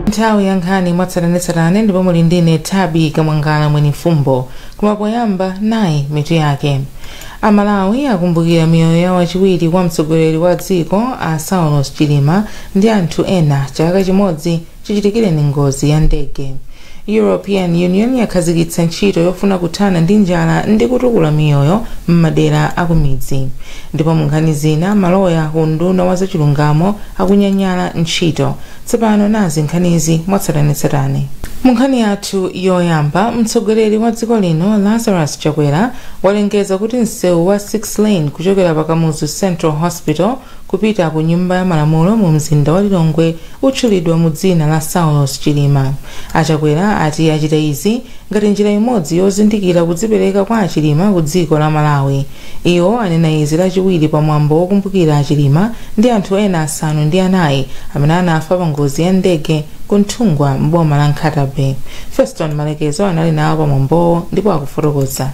nthawi ya nkhani mwatsatanetsatane ndipo muli ndine thabi kamwangala mweni mfumbo koma poyamba nayi mitu yake amalawi akumbukira miyoyo ya wachiwiri kwa mtsogoleri wa dziko a saulos chilima ndi anthu ena chaka chimodzi chichitikireni ngozi ya ndege european union yakhazikitsa ntchito yofuna kuthana ndi njala ndi kutukula miyoyo m'madera akumidzi ndipo munkhani zina maloya ku unduna wa zachilungamo akunyanyala ntchito tsopano nazi nkhanizi mwatsatanetsatane munkhani yathu yoyamba mtsogoleri wa dziko lino lazarus chakwera walengeza kuti msewu wa 6 lane kuchokera pa kamuzu central hospital kupita ku nyumba ya malamulo mu mzinda wa Lilongwe utchulidwa mu dzina la Saulos Chilima. A Chakwera ati achita izi ngati njira imodzi yozindikira kudzipereka kwa a Chilima ku dziko la Malawi. Iwo anena izi lachiwiri pa mwambo wokumbukira a Chilima ndi anthu ena asanu ndi anayi amene anafa pa ngozi ya ndege ku Nthungwa m'boma la Nkhata Bay. Feston Malekezo anali nawo pa mwambowo ndipo akufotokoza.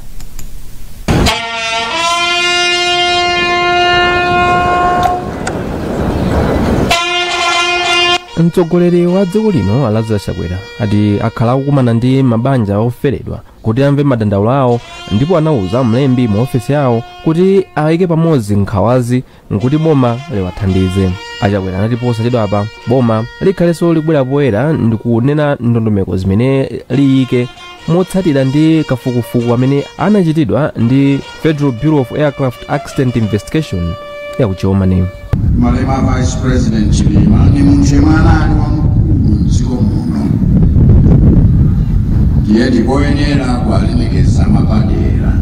mtsogoleri wa dziko lino a lazarus chakwera ati akhala akukumana ndi mabanja oferedwa kuti amve madandaulo awo ndipo anauza mlembi mu ofesi yawo kuti ayike pamodzi nkhawazi nkuti boma liwathandize achakwera anati posachedwapa boma likhalenso libwera poyera ndi kunena ndondomeko zimene liyike motsatira ndi kafukufuku amene anachitidwa ndi federal bureau of aircraft accident investigation ya ku germany malemu vice president chilima ndi munthu yemwe anali wamkulu mdziko muno ndiye ndikoyenera kuwalemekeza mwapadera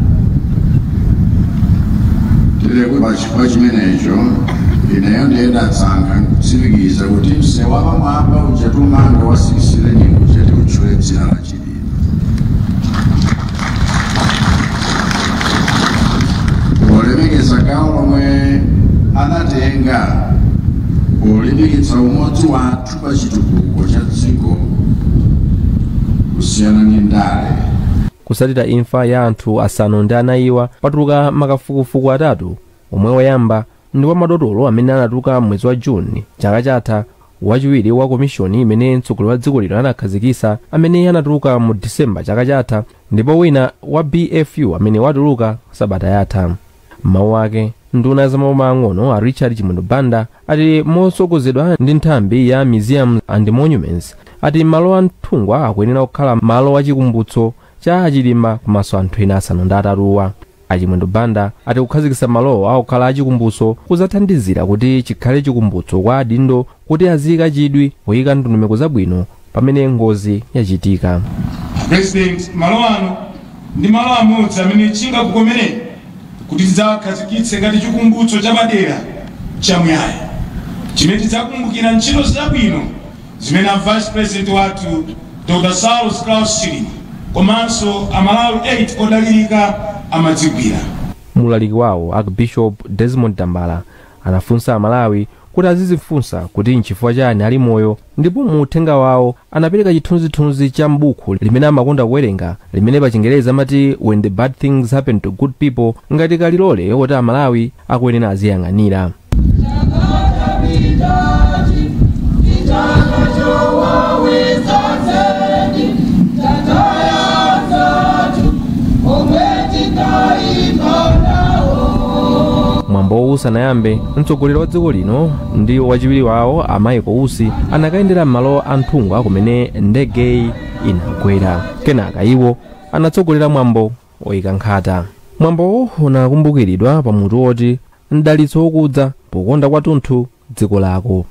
Ndiye pa chifukwa chimenecho ineyo ndiye ndasankha kutsimikiza kuti msewu wapamwamba uja tumanga wa 6 lane uja tiutchule dzina la Chilima. Polemekeza gawo lomwe anatenga polimbikitsa umodzi wathu pa chitukuko cha dziko kusiyana ndi ndale. Kutsatira imfa ya anthu asanu ndi anayiwa, patuluka makafukufuku atatu omwe woyamba ndi wa madotolo amene anatuluka m'mwezi wa June chaka chatha, wachiwiri wa komishoni imene mtsogoleri wa dziko lino anakhazikitsa amene anatuluka mu December chaka chatha ndipo wina wa BFU amene watuluka sabata yatha. M'mawu ake, nduna ya zamaboma ang'ono a Richard Chimwendo Banda ati motsogozedwa ndi nthambi ya Museums and Monuments ati malo a Nthungwa akuyenera kukhala malo a chikumbutso cha a Chilima komanso anthu ena asanu ndi atatuwa. A Chimwendo Banda ati kukhazikitsa malowa kukhala achikumbutso kudzathandizira kuti chikhale chikumbutso kwa adindo kuti aziika chidwi poika ndondomeko zabwino pamene ngozi yachitika. A President, malo ano ndi malo amodzi amene chingakukomereni kuti tidzawakhazikitse ngati chikumbutso chapadera chamuyaya chimene tidzakumbukira ntchito zabwino zimene a Vice President wathu Dr. Saulos Klaus Chilima komanso Amalawi 8 odalirika amadzigwira. Mu ulaliki wawo, Archbishop Desmond Tambala anafunsa Amalawi kuti azidzifunsa kuti nchifukwa chani ali moyo ndipo mu uthenga wawo anapereka chithunzithunzi cha m'buku limene amakonda kuwerenga limene pa Chingerezi amati when the bad things happen to good people ngati kalilole woti amalawi akuyenera aziyang'anira mwambowu usanayambe Mtsogoleri wa dziko lino ndi wachiwiri wawo a Michael Usi anakayendera m'malo a Nthungwa kumene ndegeyi inagwera. Kenaka iwo anatsogolera mwambo oyika nkhata. Mwambowo unakumbukiridwa pa mutu woti Mdalitso Wokudza Pokonda Kwathunthu Dziko Lako.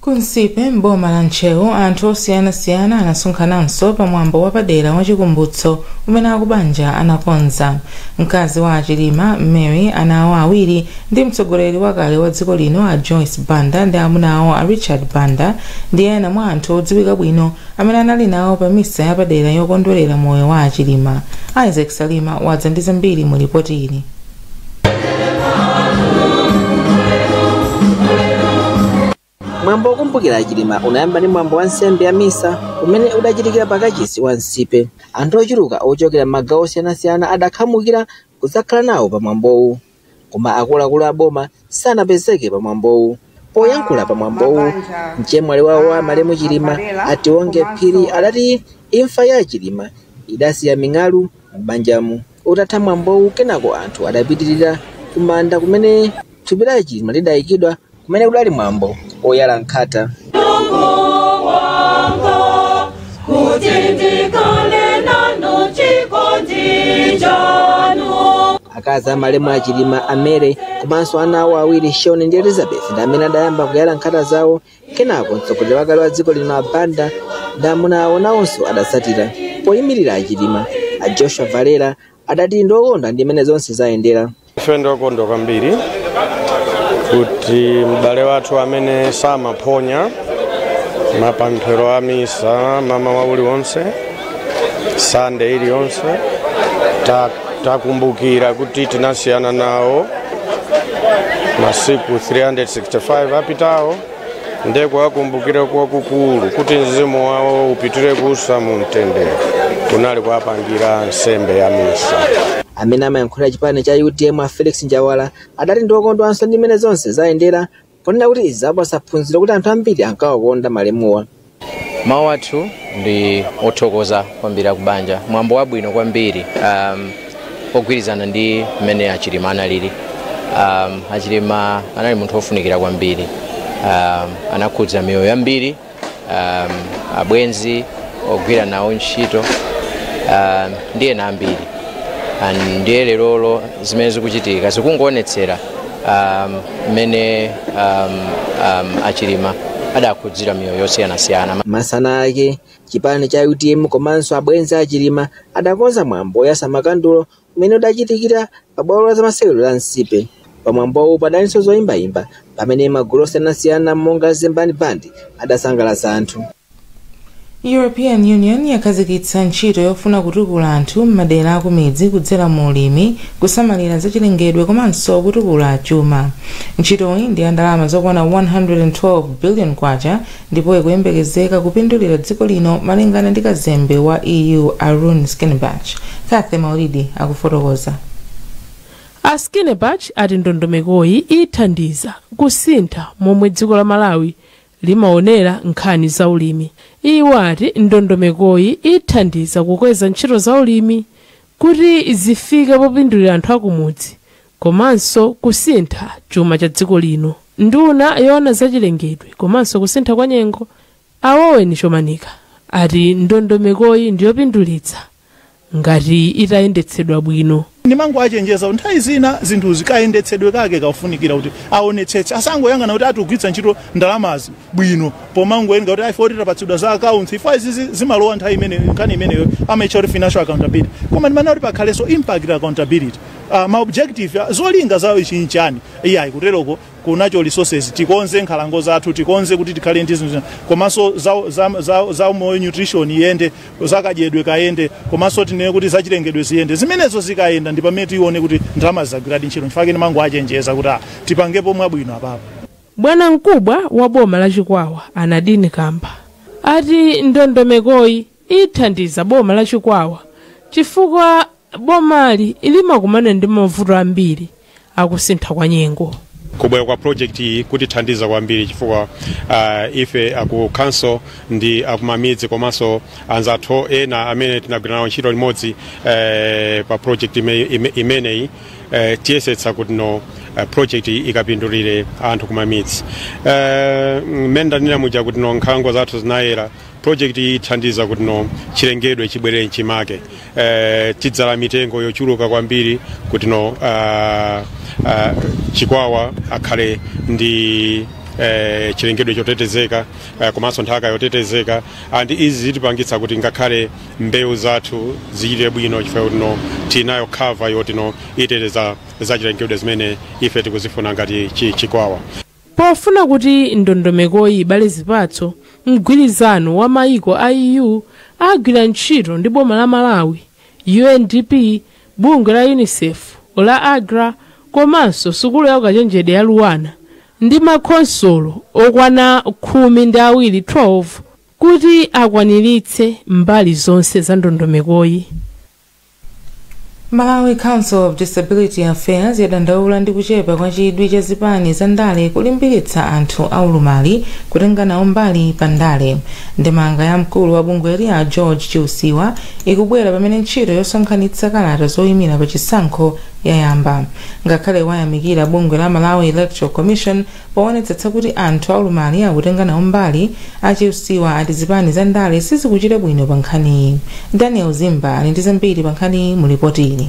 Ku Nsipe m'boma la Ntcheu anthu osiyanasiyana anasonkhananso pa mwambo wapadera wa chikumbutso umene akubanja anakonza. Mkazi wa a Chilima, Mary, ana awo awiri ndi mtsogoleri wakale wa dziko lino a Joyce Banda ndi amuna awo a Richard Banda ndi ena mwa anthu odziwika bwino amene anali nawo pa misa yapadera yokondwerera moyo wa a Chilima. Isaac Salima wadza ndi zambiri mu lipoti ili. mwambo wokumbukira a Chilima unayamba ndi mwambo wa nsembe ya misa umene udachitikira pa kachisi wa Nsipe anthu ochuluka ochokera m'magawo osiyanasiyana adakhamukira kudzakhala nawo pa mwambowu koma akuluakulu a boma sanapezeke pa mwambowu Poyankhula pa mwambowu, mchemwali wawo wa malemu Chilima, a Tionge Phiri adati imfa ya a Chilima idasiya ming'alu m'banjamu. Utatha mwambowu, kenako anthu adapitirira ku manda kumene thupi la a Chilima lidaikidwa kumene kudali mwambo woyala nkhata. kuti ndikale nanu chikondi chanu. Akazi a malemu a Chilima, a Mary, komanso ana awo awiri, Shaun ndi Elizabeth, ndi amene adayamba kuyala nkhata zawo. Kenako mtsogoleri wakale wa dziko lino a Banda ndi amuna awo nawonso adatsatira. Poyimirira a Chilima, a Joshua Valera adati ndi okondwa ndi mmene zonse zayendera. Ife ndi okondwa kwambiri kuti m'bale wathu amene samaphonya mapemphero a misa mamawa uliwonse sande iliyonse ta- takumbukira kuti tinasiyana nawo masiku 365 apitawo nde kuwakumbukira kwakukulu kuti mzimu wawo upitire kuusa mu mtendere kunali kuwapangira nsembe ya misa amene amayankhulira chipani cha utm a felix njawala adati ndiokondwanso ndi mmene zonse zayendera Ponena kuti izi zapatsa phunziro kuti anthu ambiri ankawakonda malemuwa. Mawu athu ndi othokoza kwambiri akubanja, mwambo wabwino kwambiri um, ogwirizana ndi mmene achilima analili. Um, achilima anali munthu wofunikira kwambiri um, anakhudza miyoyo yambiri um, abwenzi ogwira nawo ntchito um, ndi ena ambiri and ndiye lerolo zimene zikuchitika zikungoonetsera um, mmene um, um, achilima adakhudzira miyoyo yosiyanasiyana masana ake chipani cha utm komanso abwenzi achilima adakonza mwambo oyatsa makandulo Umene udachitikira pa bwalo la zamasewero la Nsipe. Pa mwambowu padalinso zoyimbayimba pamene magulu osiyanasiyana monga Zembani Band adasangalatsa anthu. European Union yakhazikitsa ntchito yofuna kutukula anthu m'madera akumidzi kudzera mu ulimi, kusamalira zachilengedwe komanso kutukula chuma. Ntchitoyi ndi ya ndalama zokwana 112 billion kwacha ndipo ikuyembekezeka kupindulira dziko lino malingana ndi kazembe wa EU a Rune Skinnebach. Cathy Maulidi akufotokoza. A Skinnebach ati ndondomekoyi ithandiza kusintha momwe dziko la Malawi limaonera nkhani za ulimi. Iwo ati ndondomekoyi ithandiza kukweza ntchito za ulimi kuti zifike popindulira anthu akumudzi komanso kusintha chuma cha dziko lino. Nduna yoona zachilengedwe komanso kusintha kwa nyengo, a Owen Chomanika, ati ndondomekoyi ndiyopindulitsa ngati itayendetsedwa bwino. Ndimangowachenjeza kuti nthawi zina zinthuzi kayendetsedwe kake kafunikira kuti aonetsetse, asangoyang'ana kuti akugwiritsa ntchito ndalamazi bwino pomangonena kuti ife oti tapatsidwa za accounts ife izizi zimalowa nthawi imene nkhani imeneyo amaitcha kuti financial accountability koma ndimafuna kuti pakhalenso impact accountability uh, ma objective ah, zolinga zawo ichi nchani iyayi kuteroko kunacho resources tikonze nkhalango zathu tikonze kuti tikhale ndi zinthu zina. komanso za, za, za, za umoyo nutrition iyende zakadyedwe kayende komanso tinene kuti zachilengedwe ziyende zimenezo zikayenda ndi pamene tione kuti ndalama zagwiradi ntchito nchifukwa ndimangowachenjeza kuti ah, tipangepo mwabwino apapo Bwanamkubwa wa boma la Chikwawa a Nardin Kamba ati ndondomekoyi ithandiza boma la Chikwawa chifukwa bomali limakumana ndi mavuto ambiri a kusintha kwa nyengo. kubwera kwa project iyi kutithandiza kwambiri chifukwa uh, ife aku council ndi akumamidzi komanso anzathu ena amene tinagwira nawo ntchito limodzi eh, pa project ime- ime- imeneyi eh, tiyesetsa kuti no eh, project iyi ikapindulire anthu kumamidzi eh, mmene ndanena muja kuti no nkhalango zathu zinayera project iyi ithandiza kuti no chilengedwe chibwere mchimake eh, tidzala mitengo yochuluka kwambiri kuti no ah, ah, chikwawa akhale ndi eh, chilengedwe chotetezeka eh, komanso nthaka yotetezeka and izi zitipangitsa kuti ngakhale mbewu zathu zichite bwino chifukwa kuti no tinayo cover yoti no iteteza zachilengedwe zimene ife tikuzifuna ngati chi- chikwawa pofuna kuti ndondomekoyi ibale zipatso mgwirizano wa maiko a eu agwira ntchito ndi boma la malawi undp bungwe la unicef la agra komanso sukulu ya ukachenjede ya luanar ndi makhonsolo okwana khumi ndi awiri 12 Kuti akwaniritse mbali zonse za ndondomekoyi. Malawi Council of Disability Affairs yadandaula ndi kuchepa kwa chidwi cha zipani za ndale kulimbikitsa anthu aulumali kutenga nawo mbali pa ndale. Ndemanga ya mkulu wa bungweli a George Chiusiwa ikubwera pamene ntchito yosonkhanitsa kalata zoyimira pa chisankho yayamba. Ngakhale wayamikira bungwe la Malawi Electoral Commission Poonetsetsa kuti anthu aulumali akutenga nawo mbali, a Chiusiwa ati zipani za ndale sizikuchita bwino pa nkhaniyi. Daniel Zimba ali ndi zambiri pa nkhaniyi mu lipotili.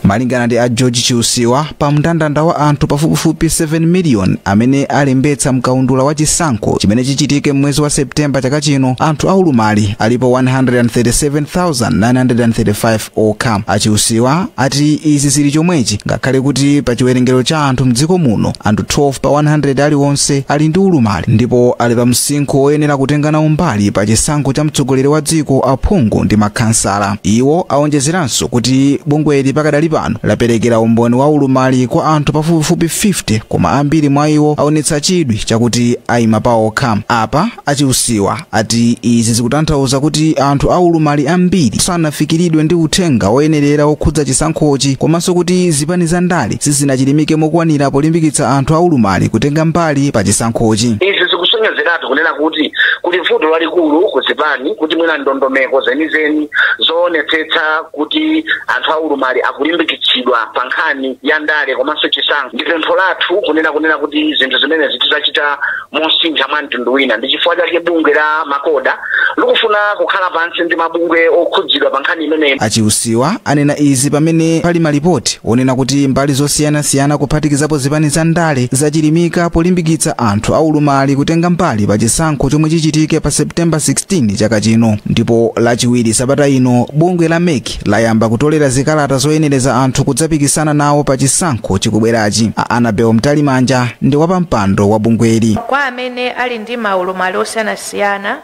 Malingana ndi a George Chiusiwa, pa mndandanda wa anthu pafupifupi 7 miliyoni amene alembetsa mkaundula wa chisankho chimene chichitike m'mwezi wa September chaka chino, anthu aulumali alipo 137,935 okha. A Chiusiwa ati izi zili chomwechi ngakhale kuti pa chiwerengero cha anthu mdziko muno, anthu 12 pa 100 aliwonse ali ndi ulumali ndipo ali pa msinkhu oyenera kutenga nawo mbali pa chisankho cha mtsogoleri wa dziko, aphungu ndi makhansala. Iwo awonjezeranso kuti bungweli pakadali pano laperekera umboni wa ulumali kwa anthu pafupifupi 50 koma ambiri mwa iwo awonetsa chidwi chakuti ayima paokha. Apa a Chiusiwa ati izi zikutanthauza kuti anthu aulumali ambiri sanafikiridwe ndi uthenga woyenerera wokhudza chisankhochi komanso kuti zipani za ndale sizinachilimike mokwanira polimbikitsa anthu aulumali kutenga mbali pa chisankhochi izi zikusonyezeratu kunena kuti kuli vuto lalikulu ku zipani kuti mwina ndondomeko zenizeni zoonetsetsa kuti anthu aulumali akulimbikitsidwa pa nkhani ya ndale komanso chisankho ndi pempho lathu kunena kunena kuti zinthu zimenezi tidzachita mosintha mwa mtundu wina ndi chifukwa chake bungwe la MACODA likufuna kukhala pansi ndi mabungwe okhudzidwa pa nkhani imeneyi a Chiusiwa anena izi pamene pali malipoti onena kuti mbali zosiyanasiyana kuphatikizapo zipani za ndale zachilimika polimbikitsa anthu aulumali kutenga mbali pa chisankho chomwe chichitike pa septemba 16 chaka chino ndipo lachiwiri sabata ino bungwe la mec layamba kutolera zikalata zoyenereza anthu kudzapikisana nawo pa chisankho chikubwerachi a Annabel mtalimanja ndi wapampando wa bungweli kwa amene ali ndi maulumali osiyanasiyana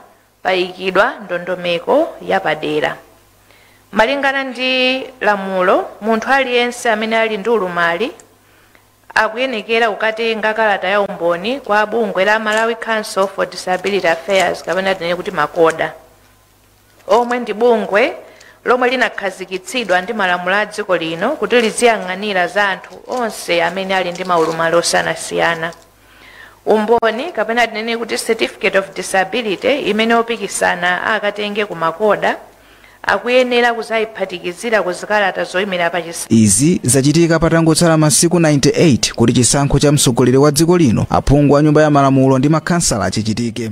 payikidwa ndondomeko yapadera malingana ndi lamulo munthu aliyense amene ali ndi ulumali akuyenekera kukatenga kalata ya umboni kwa bungwe la malawi council for disability affairs kapena tinene kuti MACODA omwe ndi bungwe lomwe linakhazikitsidwa ndi malamulo a dziko lino kuti liziyang'anira za anthu onse amene ali ndi maulumali osiyanasiyana umboni kapena tinene kuti certificate of disability imene opikisana akatenge ku MACODA akuyenera kuzayiphatikizira ku zikalata zoyimira pa chisa izi zachitika patangotsala masiku 98 kuti chisankho cha mtsogoleri wa dziko lino aphungu a nyumba ya malamulo ndi makhansala chichitike